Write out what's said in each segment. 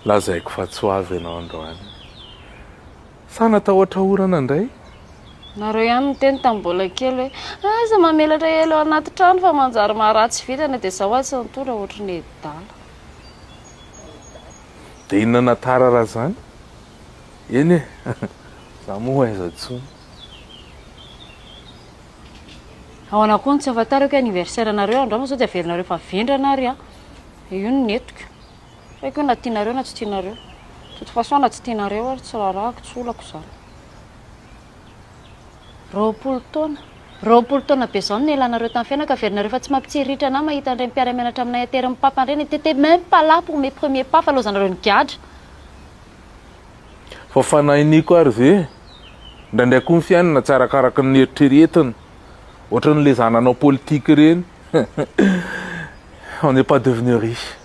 Lazaiko fa tsy ho avy ianao androany. Sa natao hatahorana indray? Nareo ihany niteny tamin'ny mbola kely hoe aza mamelatra ela eo anaty trano fa manjary maharatsy vintana dia zao atsy ny tondra ohatry ny edala. Dia inona na tara raha zany? Eny e! za moa aiza tsony. Ahoana koa no tsy hahafantarako hoe anniversaire anareo andro hafa sao tsy averinareo fa vendrana ary aho. Io no nentiko. Tsy haiko hoe na tianareo na tsy tianareo. De toute façon na tsy tianareo ary tsy raharahako tsy olako izany. Roapolo taona. Roapolo taona be zao no nialanareo tamin'ny fiainako, averinareo fa tsy mampitsiriritra anah mahita an'ireny mpiara-mianatra aminay aterinin'i Papa ireny, t'etais même pas là pour mes premiers pas fa laozanareo nigadra. Fa fanahiniko ary ve? Indraindray koa ny fiainana tsy arakaraka ny eritreretina, ohatran'ny lezananao politika ireny, on n'est pas devenu riche.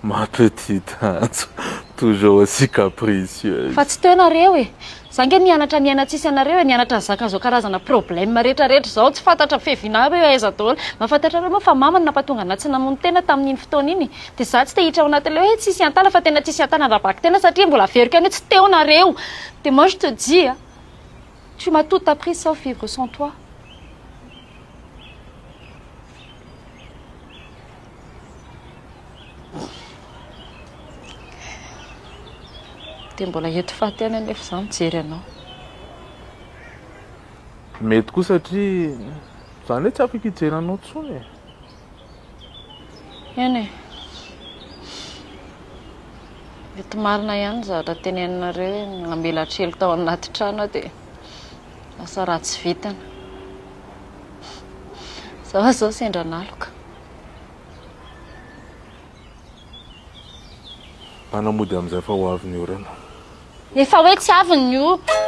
Ma petite Antso toujours aussi capricieuse. Fa tsy teo nareo e! Za nge nianatra niaina tsisy anareo e, nianatra nizaka zao karazana problème rehetra rehetra zao, tsy fantatra fevinao hoe aiza daholo, mahafantatrareo moa fa mama no nampatonga anah tsy namono tena tamin'iny fotoana iny e, de za tsy te hiditra ao anatin'le hoe tsisy iantana fa tena tsisy iantana raha bako tena satria mbola averiko ihany hoe tsy teo nareo, de moi je te dis a, tu ma tout appris sauf vivre sans toi. Dia mbola hety faty ihany anefa izaho mijery anao. Mety koa satria izaho anie tsy afaka hijery anao intsony e. Eny e. Mety marina ihany ny zavatra teneninareo hoe namela trelo tao anaty trano aho dia lasa ratsy vitana. Izaho izao sendra naloka. Bana mody amizay fa ho avy ny orana. Efa hoe tsy avy ny orana.